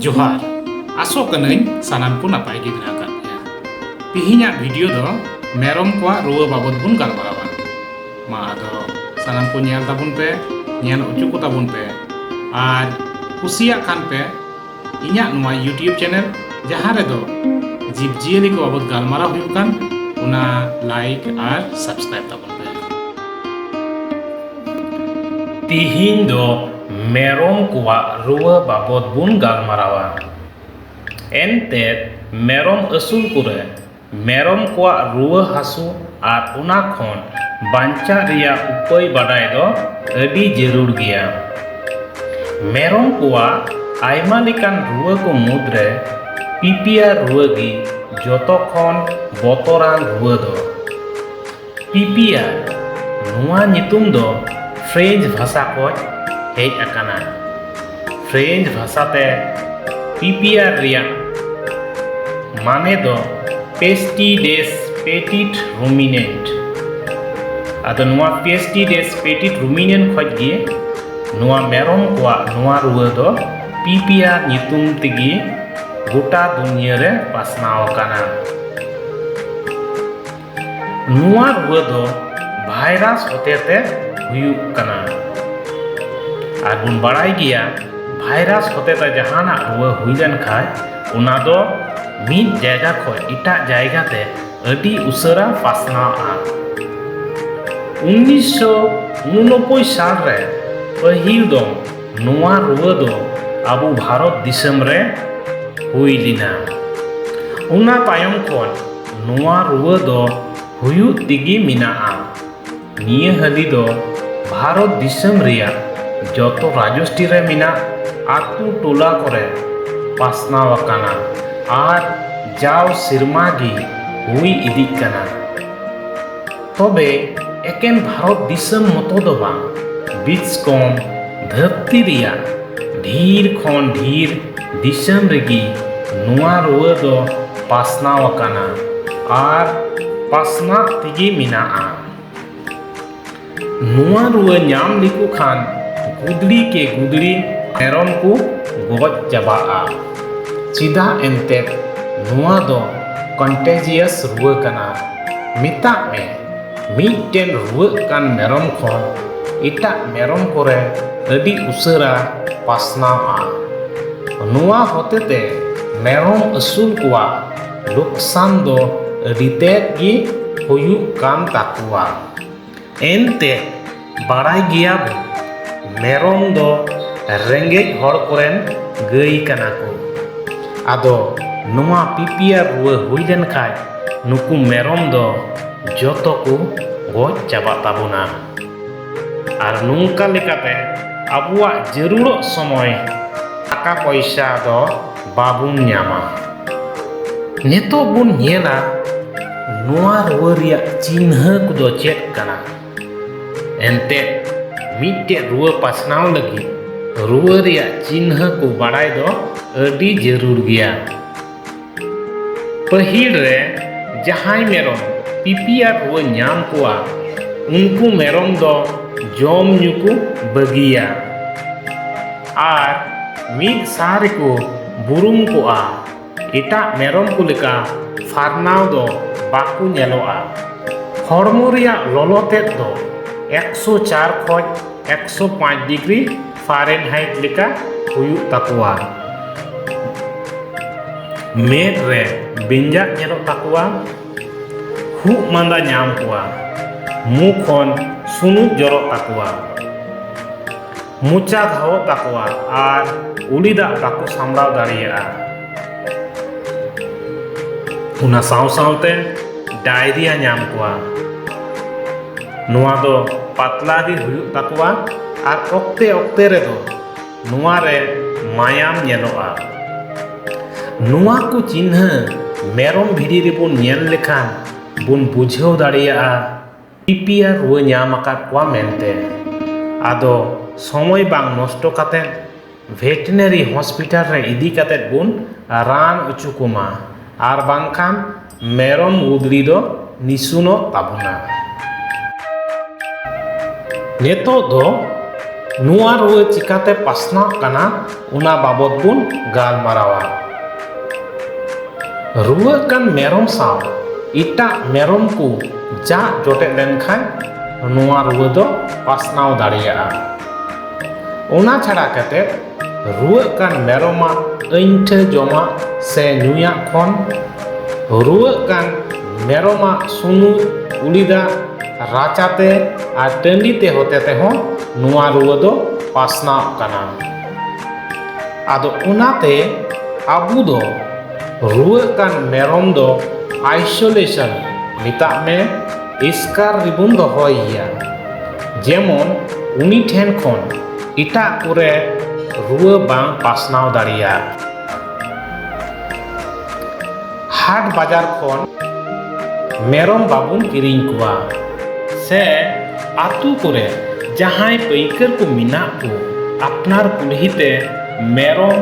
ᱡᱚᱦᱟᱨ ᱟᱥᱚᱜ ᱠᱟᱹᱱᱟᱹᱧ ᱥᱟᱱᱟᱢ ᱠᱚ ᱱᱟᱯᱟᱭ ᱜᱮ ᱢᱮᱱᱟᱜ ᱟᱠᱟᱫ ᱯᱮᱭᱟ ᱛᱮᱦᱮᱧᱟᱜ ᱵᱷᱤᱰᱤᱭᱳ ᱫᱚ ᱢᱮᱨᱚᱢ ᱠᱚᱣᱟᱜ ᱨᱩᱣᱟᱹ ᱵᱟᱵᱚᱫ ᱵᱚᱱ ᱜᱟᱞᱢᱟᱨᱟᱣᱟ ᱢᱟ ᱟᱫᱚ ᱥᱟᱱᱟᱢ ᱠᱚ ᱧᱮᱞ ᱛᱟᱵᱚᱱ ᱯᱮ ᱧᱮᱞ ᱦᱚᱪᱚ ᱠᱚ ᱛᱟᱵᱚᱱ ᱯᱮ ᱟᱨ ᱠᱩᱥᱤᱭᱟᱜ ᱠᱷᱟᱱ ᱯᱮ ᱤᱧᱟᱹᱜ ᱱᱚᱣᱟ ᱤᱭᱩᱴᱤᱭᱩᱵᱽ ᱪᱮᱱᱮᱞ ᱡᱟᱦᱟᱸ ᱨᱮᱫᱚ ᱡᱤᱵᱽᱼᱡᱤᱭᱟᱹᱞᱤ ᱠᱚ ᱵᱟᱵᱚᱫ ᱜᱟᱞᱢᱟᱨᱟᱣ ᱦᱩᱭᱩᱜ ᱠᱟᱱ ᱚᱱᱟ ᱞᱟᱭᱤᱠ ᱟᱨ ᱥᱟᱵᱥᱠᱨᱟᱭᱤᱵᱽ ᱛᱟᱵᱚᱱ ᱛᱤᱦᱤᱧ ᱫᱚ ᱢᱮᱨᱚᱢ ᱠᱚᱣᱟᱜ ᱨᱩᱣᱟᱹ ᱵᱟᱵᱚᱛ ᱵᱚᱱ ᱜᱟᱞᱢᱟᱨᱟᱣᱟ ᱮᱱᱛᱮᱫ ᱢᱮᱨᱚᱢ ᱟᱹᱥᱩᱞ ᱠᱚᱨᱮ ᱢᱮᱨᱚᱢ ᱠᱚᱣᱟᱜ ᱨᱩᱣᱟᱹ ᱦᱟᱹᱥᱩ ᱟᱨ ᱚᱱᱟ ᱠᱷᱚᱱ ᱵᱟᱧᱪᱟᱜ ᱨᱮᱭᱟᱜ ᱩᱯᱟᱹᱭ ᱵᱟᱰᱟᱭ ᱫᱚ ᱟᱹᱰᱤ ᱡᱟᱹᱨᱩᱲ ᱜᱮᱭᱟ ᱢᱮᱨᱚᱢ ᱠᱚᱣᱟᱜ ᱟᱭᱢᱟ ᱞᱮᱠᱟᱱ ᱨᱩᱣᱟᱹ ᱠᱚ ᱢᱩᱫᱽ ᱨᱮ ᱯᱤᱯᱤᱭᱟᱨ ᱨᱩᱣᱟᱹ ᱜᱮ ᱡᱚᱛᱚ ᱠᱷᱚᱱ ᱵᱚᱛᱚᱨᱟᱱ ᱨᱩᱣᱟᱹ ᱫᱚ ᱯᱤᱯᱤᱭᱟ ᱱᱚᱣᱟ ᱧᱩᱛᱩᱢ ᱫᱚ ᱯᱷᱨᱮᱧᱡᱽ ᱵᱷᱟᱥᱟ ᱠᱷᱚᱱ ᱦᱮᱡ ᱟᱠᱟᱱᱟ ᱯᱷᱨᱮᱧᱡᱽ ᱵᱷᱟᱥᱟᱛᱮ ᱯᱤᱯᱤᱭᱟ ᱨᱮᱭᱟᱜ ᱢᱟᱱᱮ ᱫᱚ ᱯᱮᱥᱴᱤ ᱰᱮᱥ ᱯᱮᱴᱤᱴ ᱨᱩᱢᱤᱱᱮᱱᱴ ᱟᱫᱚ ᱱᱚᱣᱟ ᱯᱮᱥᱴᱤ ᱰᱮᱥ ᱯᱮᱴᱤᱴ ᱨᱩᱢᱤᱱᱮᱱᱴ ᱠᱷᱚᱱ ᱜᱮ ᱱᱚᱣᱟ ᱢᱮᱨᱚᱢ ᱠᱚᱣᱟᱜ ᱱᱚᱣᱟ ᱨᱩᱣᱟᱹ ᱫᱚ ᱯᱤᱯᱤᱭᱟ ᱧᱩᱛᱩᱢ ᱛᱮᱜᱮ ᱜᱚᱴᱟ ᱫᱩᱱᱤᱭᱟᱹ ᱨᱮ ᱯᱟᱥᱱᱟᱣ ᱟᱠᱟᱱᱟ ᱱᱚᱣᱟ ᱨᱩᱣᱟᱹ ᱫᱚ ᱵᱷᱟᱭᱨᱟᱥ ᱦᱚᱛᱮᱛᱮ ᱦᱩᱭᱩᱜ ᱠᱟᱱᱟ ᱟᱨ ᱵᱚᱱ ᱵᱟᱲᱟᱭ ᱜᱮᱭᱟ ᱵᱷᱟᱭᱨᱟᱥ ᱦᱚᱛᱮᱛᱮ ᱡᱟᱦᱟᱱᱟᱜ ᱨᱩᱣᱟᱹ ᱦᱩᱭ ᱞᱮᱱᱠᱷᱟᱱ ᱚᱱᱟ ᱫᱚ ᱢᱤᱫ ᱡᱟᱭᱜᱟ ᱠᱷᱚᱱ ᱮᱴᱟᱜ ᱡᱟᱭᱜᱟ ᱛᱮ ᱟᱹᱰᱤ ᱩᱥᱟᱹᱨᱟ ᱯᱟᱥᱱᱟᱣᱼᱟ ᱩᱱᱤᱥᱥᱚ ᱩᱱᱩᱱᱚᱵᱵᱳᱭ ᱥᱟᱞ ᱨᱮ ᱯᱟᱹᱦᱤᱞ ᱫᱚ ᱱᱚᱣᱟ ᱨᱩᱣᱟᱹ ᱫᱚ ᱟᱵᱚ ᱵᱷᱟᱨᱚᱛ ᱫᱤᱥᱚᱢ ᱨᱮ ᱦᱩᱭ ᱞᱮᱱᱟ ᱚᱱᱟ ᱛᱟᱭᱚᱢ ᱠᱷᱚᱱ ᱱᱚᱣᱟ ᱨᱩᱣᱟᱹ ᱫᱚ ᱦᱩᱭᱩᱜ ᱛᱮᱜᱮ ᱢᱮᱱᱟᱜᱼᱟ ᱱᱤᱭᱟᱹ ᱦᱟᱹᱞᱤ ᱫᱚ ᱵᱷᱟᱨᱚᱛ ᱫᱤᱥᱚᱢ ᱨᱮᱭᱟᱜ ᱡᱚᱛᱚ ᱨᱟᱡᱚᱥᱴᱤ ᱨᱮ ᱢᱮᱱᱟᱜ ᱟᱛᱳ ᱴᱚᱞᱟ ᱠᱚᱨᱮ ᱯᱟᱥᱱᱟᱣ ᱟᱠᱟᱱᱟ ᱟᱨ ᱡᱟᱣ ᱥᱮᱨᱢᱟ ᱜᱮ ᱦᱩᱭ ᱤᱫᱤᱜ ᱠᱟᱱᱟ ᱛᱚᱵᱮ ᱮᱠᱮᱱ ᱵᱷᱟᱨᱚᱛ ᱫᱤᱥᱚᱢ ᱢᱚᱛᱚ ᱫᱚ ᱵᱟᱝ ᱵᱤᱪᱠᱚᱢ ᱫᱷᱟᱹᱨᱛᱤ ᱨᱮᱭᱟᱜ ᱰᱷᱮᱨ ᱠᱷᱚᱱ ᱰᱷᱮᱨ ᱫᱤᱥᱚᱢ ᱨᱮᱜᱮ ᱱᱚᱣᱟ ᱨᱩᱣᱟᱹ ᱫᱚ ᱯᱟᱥᱱᱟᱣ ᱟᱠᱟᱱᱟ ᱟᱨ ᱯᱟᱥᱱᱟᱜ ᱛᱮᱜᱮ ᱢᱮᱱᱟᱜᱼᱟ ᱱᱚᱣᱟ ᱨᱩᱣᱟᱹ ᱧᱟᱢ ᱞᱮᱠᱚ ᱠᱷᱟᱱ ᱜᱩᱫᱽᱲᱤ ᱠᱮ ᱜᱩᱫᱽᱲᱤ ᱢᱮᱨᱚᱢ ᱠᱚ ᱜᱚᱡ ᱪᱟᱵᱟᱜᱼᱟ ᱪᱮᱫᱟᱜ ᱮᱱᱛᱮᱫ ᱱᱚᱣᱟ ᱫᱚ ᱠᱚᱱᱴᱮᱡᱤᱭᱟᱥ ᱨᱩᱣᱟᱹ ᱠᱟᱱᱟ ᱢᱮᱛᱟᱜ ᱢᱮ ᱢᱤᱫᱴᱮᱱ ᱨᱩᱣᱟᱹᱜ ᱠᱟᱱ ᱢᱮᱨᱚᱢ ᱠᱷᱚᱱ ᱮᱴᱟᱜ ᱢᱮᱨᱚᱢ ᱠᱚᱨᱮ ᱟᱹᱰᱤ ᱩᱥᱟᱹᱨᱟ ᱯᱟᱥᱱᱟᱣᱟ ᱱᱚᱣᱟ ᱦᱚᱛᱮᱛᱮ ᱢᱮᱨᱚᱢ ᱟᱹᱥᱩᱞ ᱠᱚᱣᱟᱜ ᱞᱳᱠᱥᱟᱱ ᱫᱚ ᱟᱹᱰᱤ ᱛᱮᱫ ᱜᱮ ᱦᱩᱭᱩᱜ ᱠᱟᱱ ᱛᱟᱠᱚᱣᱟ ᱮᱱᱛᱮ ᱵᱟᱲᱟᱭ ᱜᱮᱭᱟ ᱵᱚ ᱢᱮᱨᱚᱢ ᱫᱚ ᱨᱮᱸᱜᱮᱡ ᱦᱚᱲ ᱠᱚᱨᱮᱱ ᱜᱟᱹᱭ ᱠᱟᱱᱟ ᱠᱚ ᱟᱫᱚ ᱱᱚᱣᱟ ᱯᱤᱯᱤᱭᱟᱨ ᱨᱩᱣᱟᱹ ᱦᱩᱭ ᱞᱮᱱ ᱠᱷᱟᱡ ᱱᱩᱠᱩ ᱢᱮᱨᱚᱢ ᱫᱚ ᱡᱚᱛᱚ ᱠᱚ ᱜᱚᱡ ᱪᱟᱵᱟᱜ ᱛᱟᱵᱚᱱᱟ ᱟᱨ ᱱᱚᱝᱠᱟ ᱞᱮᱠᱟᱛᱮ ᱟᱵᱚᱣᱟᱜ ᱡᱟᱹᱨᱩᱲᱚᱜ ᱥᱚᱢᱚᱭ ᱴᱟᱠᱟ ᱯᱚᱭᱥᱟ ᱫᱚ ᱵᱟᱵᱚᱱ ᱧᱟᱢᱟ ᱱᱤᱛᱚᱜ ᱵᱚᱱ ᱧᱮᱞᱟ ᱱᱚᱣᱟ ᱨᱩᱣᱟᱹ ᱨᱮᱭᱟᱜ ᱪᱤᱱᱦᱟᱹ ᱠᱚᱫᱚ ᱪᱮᱫ ᱠᱟᱱᱟ ᱮᱱᱛᱮᱫ ᱢᱤᱫᱴᱮᱡ ᱨᱩᱣᱟᱹ ᱯᱟᱥᱱᱟᱣ ᱞᱟᱹᱜᱤᱫ ᱨᱩᱣᱟᱹ ᱨᱮᱭᱟᱜ ᱪᱤᱱᱦᱟᱹ ᱠᱚ ᱵᱟᱲᱟᱭ ᱫᱚ ᱟᱹᱰᱤ ᱡᱟᱹᱨᱩᱲ ᱜᱮᱭᱟ ᱯᱟᱹᱦᱤᱞ ᱨᱮ ᱡᱟᱦᱟᱸᱭ ᱢᱮᱨᱚᱢ ᱯᱤᱯᱤᱭᱟ ᱨᱩᱣᱟᱹ ᱧᱟᱢ ᱠᱚᱣᱟ ᱩᱱᱠᱩ ᱢᱮᱨᱚᱢ ᱫᱚ ᱡᱚᱢ ᱧᱩ ᱠᱚ ᱵᱟᱹᱜᱤᱭᱟ ᱟᱨ ᱢᱤᱫ ᱥᱟᱶ ᱨᱮᱠᱚ ᱵᱩᱨᱩᱢ ᱠᱚᱜᱼᱟ ᱮᱴᱟᱜ ᱢᱮᱨᱚᱢ ᱠᱚ ᱞᱮᱠᱟ ᱯᱷᱟᱨᱱᱟᱣ ᱫᱚ ᱵᱟᱠᱚ ᱧᱮᱞᱚᱜᱼᱟ ᱦᱚᱲᱢᱚ ᱨᱮᱭᱟᱜ ᱞᱚᱞᱚ ᱛᱮᱫ ᱫᱚ 104 ᱠᱷᱚᱡ 105 ᱰᱤᱜᱽᱨᱤ ᱯᱷᱟᱨᱮᱱᱦᱟᱭᱤᱴ ᱞᱮᱠᱟ ᱦᱩᱭᱩᱜ ᱛᱟᱠᱚᱣᱟ ᱢᱮᱫ ᱨᱮ ᱵᱮᱸᱡᱟᱜ ᱧᱮᱞᱚᱜ ᱛᱟᱠᱚᱣᱟ ᱠᱷᱩᱜ ᱢᱟᱸᱫᱟ ᱧᱟᱢ ᱠᱚᱣᱟ ᱢᱩ ᱠᱷᱚᱱ ᱥᱩᱱᱩᱡ ᱡᱚᱨᱚᱜ ᱛᱟᱠᱚᱣᱟ ᱢᱚᱪᱟ ᱫᱷᱟᱣᱚᱜ ᱛᱟᱠᱚᱣᱟ ᱟᱨ ᱩᱞᱤ ᱫᱟᱜ ᱵᱟᱠᱚ ᱥᱟᱢᱲᱟᱣ ᱫᱟᱲᱮᱭᱟᱜᱼᱟ ᱚᱱᱟ ᱥᱟᱶ ᱥᱟᱶᱛᱮ ᱰᱟᱭᱨᱤᱭᱟ ᱧᱟᱢ ᱠᱚᱣᱟ ᱱᱚᱣᱟ ᱫᱚ ᱯᱟᱛᱞᱟ ᱜᱮ ᱦᱩᱭᱩᱜ ᱛᱟᱠᱚᱣᱟ ᱟᱨ ᱚᱠᱛᱮ ᱚᱠᱛᱮ ᱨᱮᱫᱚ ᱱᱚᱣᱟ ᱨᱮ ᱢᱟᱭᱟᱢ ᱧᱮᱞᱚᱜᱼᱟ ᱱᱚᱣᱟ ᱠᱚ ᱪᱤᱱᱦᱟᱹ ᱢᱮᱨᱚᱢ ᱵᱷᱤᱰᱤ ᱨᱮᱵᱚᱱ ᱧᱮᱞ ᱞᱮᱠᱷᱟᱱ ᱵᱚᱱ ᱵᱩᱡᱷᱟᱹᱣ ᱫᱟᱲᱮᱭᱟᱜᱼᱟ ᱯᱤᱯᱤᱭᱟ ᱨᱩᱣᱟᱹ ᱧᱟᱢ ᱟᱠᱟᱫ ᱠᱚᱣᱟ ᱢᱮᱱᱛᱮ ᱟᱫᱚ ᱥᱚᱢᱚᱭ ᱵᱟᱝ ᱱᱚᱥᱴᱚ ᱠᱟᱛᱮᱫ ᱵᱷᱮᱴᱮᱱᱟᱨᱤ ᱦᱚᱥᱯᱤᱴᱟᱞ ᱨᱮ ᱤᱫᱤ ᱠᱟᱛᱮᱫ ᱵᱚᱱ ᱨᱟᱱ ᱦᱚᱪᱚ ᱠᱚᱢᱟ ᱟᱨ ᱵᱟᱝᱠᱷᱟᱱ ᱢᱮᱨᱚᱢ ᱜᱩᱫᱽᱲᱤ ᱫᱚ ᱱᱤᱥᱩᱱᱚᱜ ᱛᱟᱵᱚᱱᱟ ᱱᱤᱛᱚᱜ ᱫᱚ ᱱᱚᱣᱟ ᱨᱩᱣᱟᱹ ᱪᱤᱠᱟᱹᱛᱮ ᱯᱟᱥᱱᱟᱜ ᱠᱟᱱᱟ ᱚᱱᱟ ᱵᱟᱵᱚᱫ ᱵᱚᱱ ᱜᱟᱞᱢᱟᱨᱟᱣᱟ ᱨᱩᱣᱟᱹᱜ ᱠᱟᱱ ᱢᱮᱨᱚᱢ ᱥᱟᱶ ᱮᱴᱟᱜ ᱢᱮᱨᱚᱢ ᱠᱚ ᱡᱟᱜ ᱡᱚᱴᱮᱫ ᱞᱮᱱᱠᱷᱟᱱ ᱱᱚᱣᱟ ᱨᱩᱣᱟᱹ ᱫᱚ ᱯᱟᱥᱱᱟᱣ ᱫᱟᱲᱮᱭᱟᱜᱼᱟ ᱚᱱᱟ ᱪᱷᱟᱲᱟ ᱠᱟᱛᱮ ᱨᱩᱣᱟᱹᱜ ᱠᱟᱱ ᱢᱮᱨᱚᱢᱟᱜ ᱟᱹᱧᱴᱷᱟᱹ ᱡᱚᱢᱟᱜ ᱥᱮ ᱧᱩᱭᱟᱜ ᱠᱷᱚᱱ ᱨᱩᱣᱟᱹᱜ ᱠᱟᱱ ᱢᱮᱨᱚᱢᱟᱜ ᱥᱩᱱᱩᱢ ᱩᱞᱤᱫᱟᱜ ᱨᱟᱪᱟᱛᱮ ᱟᱨ ᱴᱟᱺᱰᱤᱛᱮ ᱦᱚᱛᱮᱛᱮ ᱦᱚᱸ ᱱᱚᱣᱟ ᱨᱩᱣᱟᱹ ᱫᱚ ᱯᱟᱥᱱᱟᱜ ᱠᱟᱱᱟ ᱟᱫᱚ ᱚᱱᱟᱛᱮ ᱟᱵᱚ ᱫᱚ ᱨᱩᱣᱟᱹᱜ ᱠᱟᱱ ᱢᱮᱨᱚᱢ ᱫᱚ ᱟᱭᱥᱳᱞᱮᱥᱚᱱ ᱢᱮᱛᱟᱜ ᱢᱮ ᱮᱥᱠᱟᱨ ᱨᱮᱵᱚᱱ ᱫᱚᱦᱚᱭᱮᱭᱟ ᱡᱮᱢᱚᱱ ᱩᱱᱤ ᱴᱷᱮᱱ ᱠᱷᱚᱱ ᱮᱴᱟᱜ ᱠᱚᱨᱮ ᱨᱩᱣᱟᱹ ᱵᱟᱝ ᱯᱟᱥᱱᱟᱣ ᱫᱟᱲᱮᱭᱟᱜ ᱦᱟᱴ ᱵᱟᱡᱟᱨ ᱠᱷᱚᱱ ᱢᱮᱨᱚᱢ ᱵᱟᱵᱚᱱ ᱠᱤᱨᱤᱧ ᱠᱚᱣᱟ ᱥᱮ ᱟᱛᱳ ᱠᱚᱨᱮ ᱡᱟᱦᱟᱸᱭ ᱯᱟᱹᱭᱠᱟᱹᱨ ᱠᱚ ᱢᱮᱱᱟᱜ ᱠᱚ ᱟᱯᱱᱟᱨ ᱠᱩᱞᱦᱤ ᱛᱮ ᱢᱮᱨᱚᱢ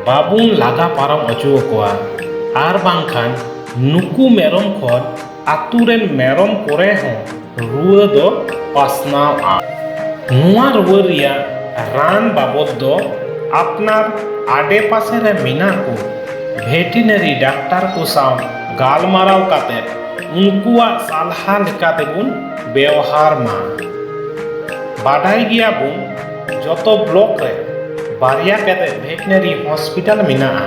ᱵᱟᱵᱚᱱ ᱞᱟᱜᱟ ᱯᱟᱨᱚᱢ ᱚᱪᱚ ᱟᱠᱚᱣᱟ ᱟᱨ ᱵᱟᱝᱠᱷᱟᱱ ᱱᱩᱠᱩ ᱢᱮᱨᱚᱢ ᱠᱷᱚᱱ ᱟᱛᱳ ᱨᱮᱱ ᱢᱮᱨᱚᱢ ᱠᱚᱨᱮ ᱦᱚᱸ ᱨᱩᱣᱟᱹ ᱫᱚ ᱯᱟᱥᱱᱟᱣᱼᱟ ᱱᱚᱣᱟ ᱨᱩᱣᱟᱹ ᱨᱮᱭᱟᱜ ᱨᱟᱱ ᱵᱟᱵᱚᱫ ᱫᱚ ᱟᱯᱱᱟᱨ ᱟᱰᱮ ᱯᱟᱥᱮ ᱨᱮ ᱢᱮᱱᱟᱜ ᱠᱚ ᱵᱷᱮᱴᱤᱱᱟᱨᱤ ᱰᱟᱠᱛᱟᱨ ᱠᱚ ᱥᱟᱶ ᱜᱟᱞᱢᱟᱨᱟᱣ ᱠᱟᱛᱮ ᱩᱱᱠᱩᱣᱟᱜ ᱥᱟᱞᱦᱟ ᱞᱮᱠᱟ ᱛᱮᱵᱚᱱ ᱵᱮᱣᱦᱟᱨ ᱢᱟ ᱵᱟᱰᱟᱭ ᱜᱮᱭᱟ ᱵᱚᱱ ᱡᱚᱛᱚ ᱵᱞᱚᱠ ᱨᱮ ᱵᱟᱨᱭᱟ ᱠᱟᱛᱮ ᱵᱷᱮᱴᱤᱱᱟᱨᱤ ᱦᱚᱥᱯᱤᱴᱟᱞ ᱢᱮᱱᱟᱜᱼᱟ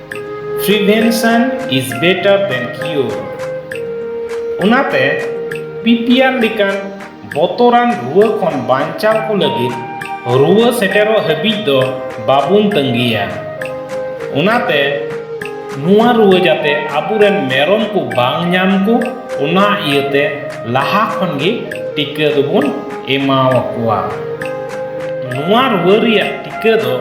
ᱯᱨᱤᱵᱷᱮᱱᱥᱚᱱ ᱤᱡ ᱵᱮᱴᱟᱨ ᱫᱮᱱ ᱠᱤᱭᱳᱨ ᱚᱱᱟᱛᱮ ᱯᱤᱯᱤᱟᱨ ᱞᱮᱠᱟᱱ ᱵᱚᱛᱚᱨᱟᱱ ᱨᱩᱣᱟᱹ ᱠᱷᱚᱱ ᱵᱟᱧᱪᱟᱣ ᱠᱚ ᱞᱟᱹᱜᱤᱫ ᱨᱩᱣᱟᱹ ᱥᱮᱴᱮᱨᱚᱜ ᱦᱟᱹᱵᱤᱡ ᱫᱚ ᱵᱟᱵᱚᱱ ᱛᱟᱺᱜᱤᱭᱟ ᱚᱱᱟᱛᱮ ᱱᱚᱣᱟ ᱨᱩᱣᱟᱹ ᱡᱟᱛᱮ ᱟᱵᱚᱨᱮᱱ ᱢᱮᱨᱚᱢ ᱠᱚ ᱵᱟᱝ ᱧᱟᱢ ᱠᱚ ᱚᱱᱟ ᱤᱭᱟᱹᱛᱮ ᱞᱟᱦᱟ ᱠᱷᱚᱱ ᱜᱮ ᱴᱤᱠᱟᱹ ᱫᱚᱵᱚᱱ ᱮᱢᱟᱣᱟᱠᱚᱣᱟ ᱱᱚᱣᱟ ᱨᱩᱣᱟᱹ ᱨᱮᱭᱟᱜ ᱴᱤᱠᱟᱹ ᱫᱚ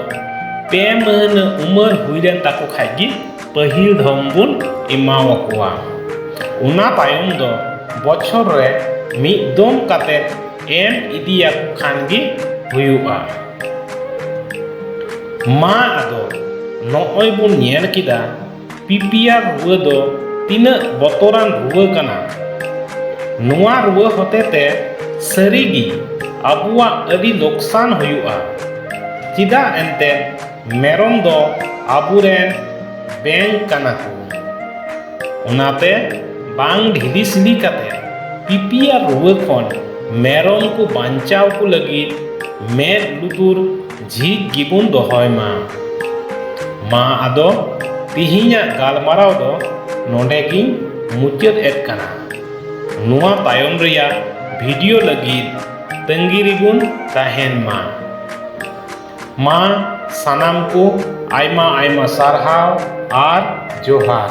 ᱯᱮ ᱢᱟᱹᱦᱱᱟᱹ ᱩᱢᱟᱹᱨ ᱦᱩᱭ ᱞᱮᱱ ᱛᱟᱠᱚ ᱠᱷᱟᱡ ᱜᱮ ᱯᱟᱹᱦᱤᱞ ᱫᱷᱚᱢ ᱵᱚᱱ ᱮᱢᱟᱣᱟᱠᱚᱣᱟ ᱚᱱᱟ ᱛᱟᱭᱚᱢ ᱫᱚ ᱵᱚᱪᱷᱚᱨ ᱨᱮ ᱢᱤᱫ ᱫᱚᱢ ᱠᱟᱛᱮ ᱮᱢ ᱤᱫᱤᱭᱟᱠᱚ ᱠᱷᱟᱱ ᱜᱮ ᱦᱩᱭᱩᱜᱼᱟ ᱢᱟ ᱟᱫᱚ ᱱᱚᱜᱼᱚᱭ ᱵᱚᱱ ᱧᱮᱞ ᱠᱮᱫᱟ ᱯᱤᱯᱤᱭᱟᱨ ᱨᱩᱣᱟᱹ ᱫᱚ ᱛᱤᱱᱟᱹᱜ ᱵᱚᱛᱚᱨᱟᱱ ᱨᱩᱣᱟᱹ ᱠᱟᱱᱟ ᱱᱚᱣᱟ ᱨᱩᱣᱟᱹ ᱦᱚᱛᱮᱛᱮ ᱥᱟᱹᱨᱤᱜᱮ ᱟᱵᱚᱣᱟᱜ ᱟᱹᱰᱤ ᱞᱚᱠᱥᱟᱱ ᱦᱩᱭᱩᱜᱼᱟ ᱪᱮᱫᱟᱜ ᱮᱱᱛᱮ ᱢᱮᱨᱚᱢ ᱫᱚ ᱟᱵᱚᱨᱮᱱ ᱵᱮᱝᱠ ᱠᱟᱱᱟ ᱠᱚ ᱚᱱᱟᱛᱮ ᱵᱟᱝ ᱰᱷᱤᱞᱤ ᱥᱤᱞᱤ ᱠᱟᱛᱮ ᱯᱤᱯᱤᱭᱟᱨ ᱨᱩᱣᱟᱹ ᱠᱷᱚᱱ ᱢᱮᱨᱚᱢ ᱠᱚ ᱵᱟᱧᱪᱟᱣ ᱠᱚ ᱞᱟᱹᱜᱤᱫ ᱢᱮᱫ ᱞᱩᱛᱩᱨ ᱡᱷᱤᱡ ᱜᱮᱵᱚᱱ ᱫᱚᱦᱚᱭ ᱢᱟ ᱢᱟ ᱟᱫᱚ ᱛᱤᱦᱤᱧᱟᱜ ᱜᱟᱞᱢᱟᱨᱟᱣ ᱫᱚ ᱱᱚᱰᱮ ᱜᱤᱧ ᱢᱩᱪᱟᱹᱫ ᱮᱫ ᱠᱟᱱᱟ ᱱᱚᱣᱟ ᱛᱟᱭᱚᱢ ᱨᱮᱭᱟᱜ ᱵᱷᱤᱰᱤᱭᱳ ᱞᱟᱹᱜᱤᱫ ᱛᱟᱺᱜᱤ ᱨᱮᱵᱚᱱ ᱛᱟᱦᱮᱱ ᱢᱟ ᱢᱟ ᱥᱟᱱᱟᱢ ᱠᱚ ᱟᱭᱢᱟ ᱟᱭᱢᱟ ᱥᱟᱨᱦᱟᱣ ᱟᱨ ᱡᱚᱦᱟᱨ